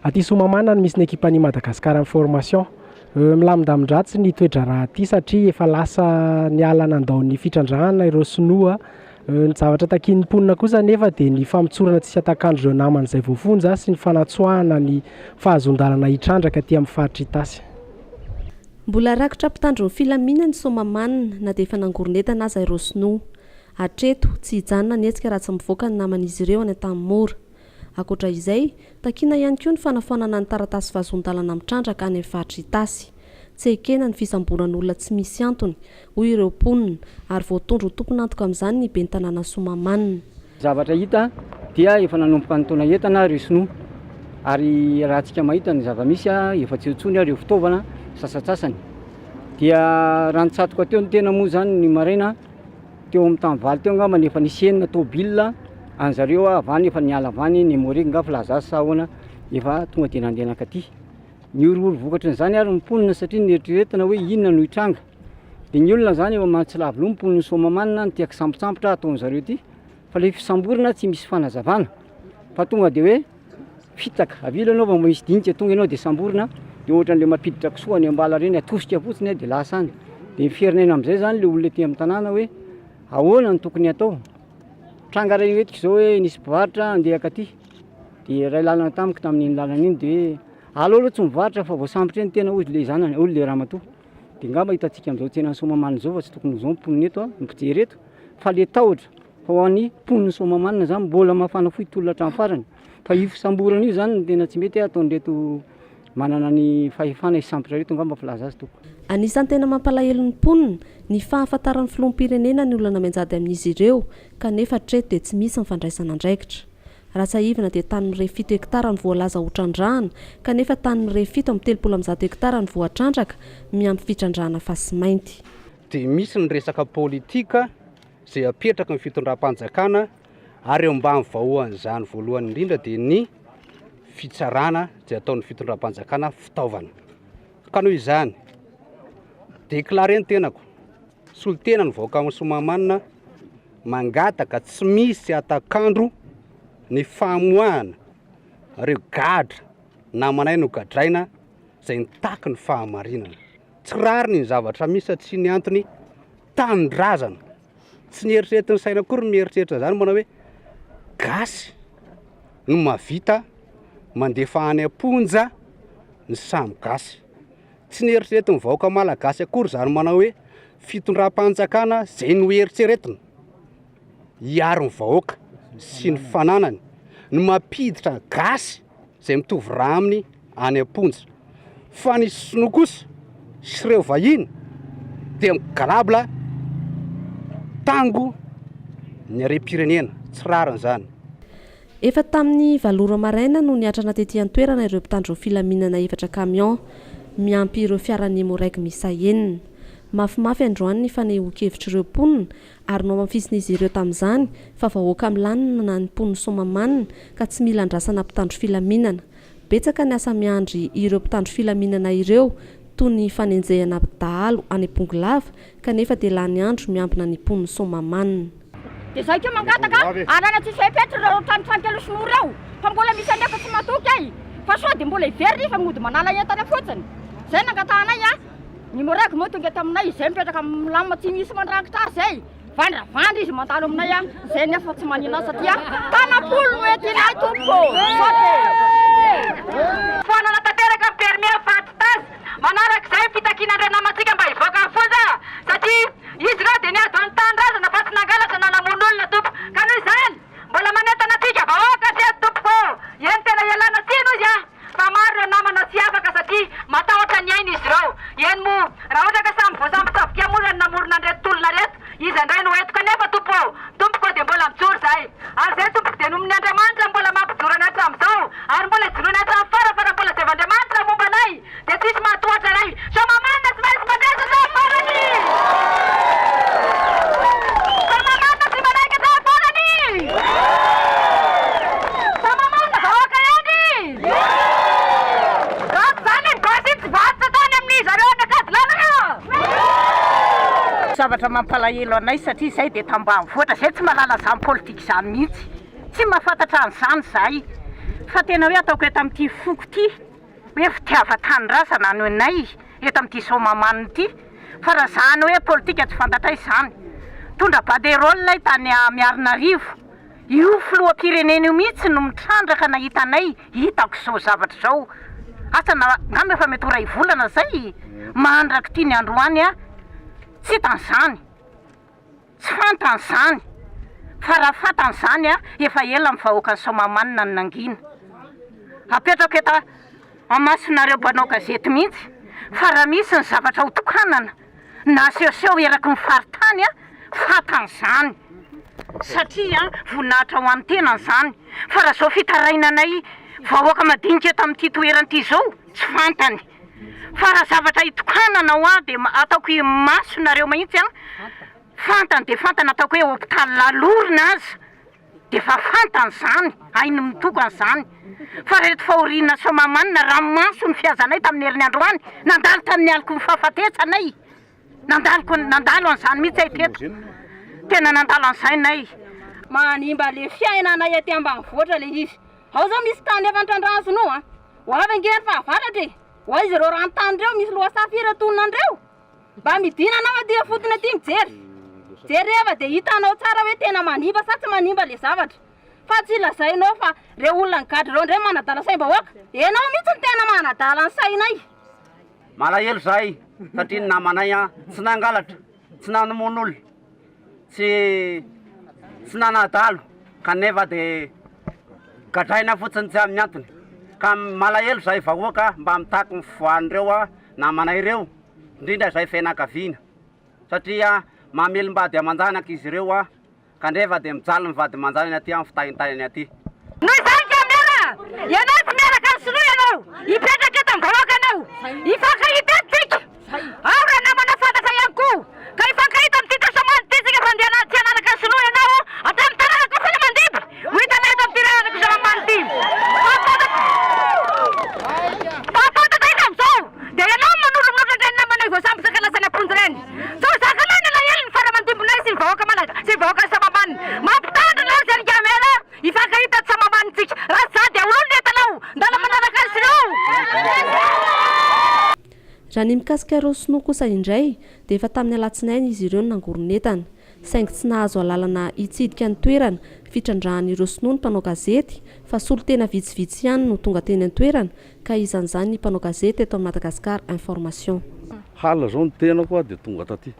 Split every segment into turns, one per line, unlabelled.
Aty Soamamana no misy ny ekipan'ny Madagascar Information. Milamindamin-dratsy ny toe-draharaha aty satria efa lasa niala nandao ny fitrandrahana ireo sinoa. Ny zavatra takian'ny mponina kosa anefa dia ny famotsorana tsy hatakan'dry ireo namany izay voafonja sy ny fanatsoahana ny fahazoan-dalana hitrandraka aty amin'ny faritra Itasy.
Mbola rakotra mpitandro ny filaminana i Soamamanina na dia efa nangoron'entana aza ireo sinoa. Hatreto, tsy hijanona ny hetsika raha tsy mivoaka ny naman'izy ireo any Antanimora. Ankoatra izay, takiana ihany koa ny fanafoanana ny taratasy vazon-dalana mitrandraka any amin'ny faritra Itasy. Tsy ekena ny fisamboran'olona tsy misy antony, hoy ireo mponina, ary voatondro ho tompon'antoka amin'izany ny ben'ny tanàna Soamahamanina. Zavatra hita
dia efa nanomboka nitaona entana ireo sinoa ary raha antsika mahita ny zava-misy efa tsy eo intsony ary ireo fitaovana sasantsasany dia raha nitsatoka teo ny tena moa izany ny maraina, Teo amin'ny tany valo teo angamba no efa nisy enina tôbila an'i zareo avy any efa niala avy any Nemorique nga Filaza sa ahoana efa tonga dia nandeha nankaty. Nihorohoro vokatry ny izany ary ny mponina satria nieritreretina hoe inona no hitranga. Dia ny olona izany efa mahatsilaviloha ny mponin'i Soamamanina no tia kisambotsambotra ataon'i zareo ity. Fa le fisamborana tsy misy fanazavana fa tonga de hoe fitaka, avy eo le anao vao misy dinika tonga ianao de samborina de ohatran'le mampiditra kisoa any am-bala reny atosika fotsiny a de lasa any, de ny fiherinaina am'zay zany le olona ety am'tanàna hoe ahoana no tokony atao, tranga ray eto k'izao hoe nisy mpivarotra andeha akaty de iray lalana tamiko tamin'iny lalana iny de hoe alao aloha tsy mivarotra fa voasambotra eo ny tena hozy le zanany, hoy le ramatoa, de ngamba hitantsika am'zao tsenan'ny Soamahamanina zao fa tsy tokony ho zao ny mponina eto a, ny mpijery eto. Fale tahotra fa ho an'ny mponin'i Soamahamanina izany mbola mafana fohy tolona hatramin'ny farany. Fa io fisamborana io izany no tena tsy mety ataon'ireto manana ny fahefana hisambotra ireto angamba filaza azy tompoko. Anisan'ny tena mampalahelo
ny mponina ny fahafantaran'ny filoham-pirenena ny olona mianjady amin'izy ireo kanefa hatreto dia tsy misy ny fandraisana andraikitra. Raha tsiahivina dia tany Mirehy fito hektara ny voalaza ho trandrahana kanefa tany Mirehy fito amby telopolo amby zato hektara ny voatrandraka miampy fitrandrahana fasimainty. dia misy
ny resaka politika izay apetraky ny fitondram-panjakana ary eo ambany vahoan'izany voalohany indrindra dia ny fitsarana izay ataon'ny fitondram-panjakana fitaovana ka noho izany déclaré ny tenako solotena ny vahoakan'ny somamanina mangataka tsy misy atakandro ny famoahana reo gadra namanay no gadraina izay nitaky ny fahamarinana Tsy rariny ny zavatra misy fa tsy ny antony tanindrazana. Tsy ny eritreretin'ny saina akory ny mieritreritra izany manao hoe gasy no mahavita mandefa any am-ponja ny samy gasy. Tsy ny eritreretin'ny vahoaka malagasy akory izany manao hoe fitondram-panjakana izay no eritreretina hiaro ny vahoaka sy ny fananany no mampiditra gasy izay mitovy rà aminy any am-ponja. Fa ny sinoa kosa sy ireo vahiny dia migarabla tango ny harem-pirenena. Tsy rariny izany. Efa
tamin'ny valo ora maraina no niatrana tety an-toerana ireo mpitandro filaminana efatra camion, miampy ireo fiaran'ny Emmo-Reg miisa enina. Mafimafy androany ny fanehoan-kevitr'ireo mponina Ary nohamafisin'izy ireo tamin'izany fa vahoaka milanona ny mponin'i Soamahamanina ka tsy mila andrasana mpitandro filaminana. Betsaka ny asa miandry ireo mpitandro filaminana ireo toy ny fanenjehana dahalo any Bongolava kanefa dia lany andro miambina ny mponin'i Soamahamanina. Dia izay koa
mangataka alana tsy hisy fepetra ireo trano fankelo sinoa ireo fa mbola misy anefa tsy matoky e! Fa sao dia mbola hiverina izy fa mody manala entana fotsiny? Izay nangatahanay a! Ny Morag moa tonga eto aminay izay mipetraka milamina tsy misy mandrangitra azy izay vandravandra izy mandalo aminay an, izay nefa tsy manino azy satria tanam-polo no entinay tompoko ô!
Foanana tanteraka ny permis eo fa tsy taz manaraka izay ny fitakiana ny ranamantsika mba hivoaka ny fonja satria izy ireo dia niady ho any tanindrazana fa tsy nangalatra na namono olona tompoko ka noho izany Mbola manentana antsika vahoaka se tompoko ô! Eny tena ialana tsiny hoy aho fa maro ireo namana tsy afaka satria matahotra ny ainy izy ireo. Eny moa raha ohatra ka samy voasambotsabokea moa ireny namorona an'ireto tolona ireto, iza indray no hoentiko anefa tompo ô! Tompoko ô dia mbola mijoro izay. Ary izay tompoko dia nomen'Andriamanitra mbola mampijoro anay hatramin'izao ary mbola ijoroanay hatramin'ny fara fa raha mbola zaivo Andriamanitra momba anay dia tsisy mahatohatra ray Sa mamanina tsy maintsy mampiasa sa farany Sa mamanina tsy manaiky sa farany Sa mamanina vahoaka ihany Raha tsy izany ny basy tsy varotra tany amin'ny zareo anakady lalana.
Zavatra mampalahelo anay satria izahay dia tambanivohitra, izahay tsy mahalala izany politika izany mihitsy, tsy mahafantatra an'izany izahay fa tena hoe ataoko eto amin'ity foko ity. hoe fitiavan-tanindrazana ny anay eto amin'ity Soamahamanina ity fa raha izany hoe politika tsy fantatray izany. Mitondra banderole ilay tany Miarinarivo, io filoham-pirenena io mihitsy no mitrandraka nahita anay hitako izao zavatra izao. Asa na angamba efa mety ho iray volana izay mandrak'ity ny androany aho tsy hita an'izany. Tsy fantany zany fa raha fantany zany a efa ela ny vahoakan'i Soamahamanina no nangina. Apetrako eto amasinareo mpanao gazety mihitsy fa raha misy ny zavatra ho tokanana na asehoseho eraky ny faritany a fantany zany satria a voninahitra ho an'ny tenany zany fa raha zao fitarainanay vahoaka madinika eto amin'ity toerana ity zao tsy fantany. Fa raha zavatra itokanana hoa dia ataoko imaso nareo mahitsy an! Fantany dia fantany ataoko hoe hôpitaly lalorina aza dia efa fantany zany, hainy mitokana zany. Fa reto fahoriana soamahamanina ranomaso ny fihazanay tamin'ny herin'ny androany nandalo tamin'ny aloky ny fahafatesanay. Nandaloko nandalo an'izany mihitsy ay teto, tena nandalo an'izay nay. Manimba
le fiainanay aty ambanivohitra le izy. Ao zao misy tany efa nitrandrahana sinoa an! Ho avy ange ny fahavaratra e! Ho aiza ireo ranontany ireo misy lohasaha firy atonona an'ireo? Mba midina anao aty ifotony aty mijery. Jereva dia hitanao tsara hoe tena manimba sa tsy manimba le zavatra. Fa tsy lazainao fa reo olona nigadra reo ndray manadala saim-bahoaka. Enao mihitsy no tena manadala ny sainay. Malahelo
zahay satria ny namanay an tsy nangalatra, tsy namono olona, tsy tsy nanadalo kanefa de gadraina fotsiny tsy amin'ny antony ka malahelo zahay vahoaka mba mitaky ny fivoahan'ireo an namanay ireo indrindra izay fianakaviana satria mamelom-bady aman-janaka izy ireo an Kandreva dia mijaly ny vady manjanany aty amin'ny fitahintahinany aty. Noho izany ka
mera ianao tsy miaraka ny sinoa ianao hipetraka eto amin'ny vahoaka anao hifankahita eto tsika ao raha namana fantatra ihany koa ka hifankahita amin'ity tasamando ity tsika fa andehanany tsy hanaraka ny sinoa ianao hatramin'ny tanana koa foana mandidy ho hitanay eto amin'ity lalana Kisaramany ity fa fantatra izy amin'izao dia ianao no manolomolotra ireny namanay voasambotra ka lasa naponjy ireny. Sao zaka lahy ny alahelo ny fara aman-dimbinay sy ny vahoaka malagasyy ny vahoakan'i Sambambaniny. Mampitandro anao ry Eric Hamel a! Hifankahita ato Sambambanintsika. Raha tsy za dia ololo ny entanao! Ndana manaraka azy ireo!
Raha ny mikasika ireo sinoa kosa indray dia efa tamin'ny alatsinainy izy ireo no nangoron'entana. Saingy tsy nahazo alalana hitsidika ny toerana fitrandrahan'ireo sinoa ny mpanao gazety fa solontena vitsivitsy ihany no tonga teny an-toerana Ka izany izany ny mpanao gazety eto amin'i Madagascar information. Hala zao
ny tenako aho dia tonga taty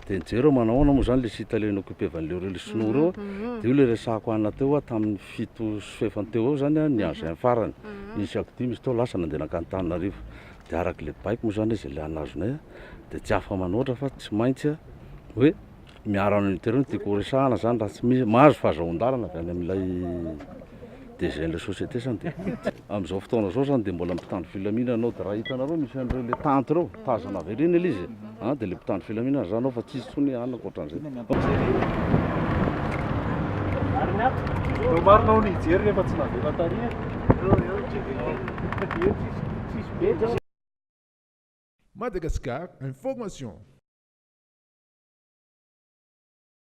dia nijery aho manahoana moa zany le site le inoccupevan'le reo le sinoa reo dia io le resahako ana teo aho tamin'ny fito sy fahefany teo eo zany ny engin farany nisy ako dimy izy teo lasa nandeha nankany Tananarivo dia arak'le baiko moa zany izy le anazonay dia tsy afa manoatra fa tsy maintsy hoe miaro an'i Internet dia koa resahana izany raha tsy misy mahazo fahazoan-dalana avy any amin'ilay DGn'ilay société izany dia amin'izao fotoana izao izany dia mbola mpitandro filaminana anao dia raha hitanareo misy an'ireo ilay tente ireo tazana avy aoriana ilay izy a dia ilay mpitandro filaminana izany ao fa tsy hisy intsony anona ankoatran'izay. Marina ao ny hijery
rehefa tsy navela tary e. Tsisy
be. Madagascar Information.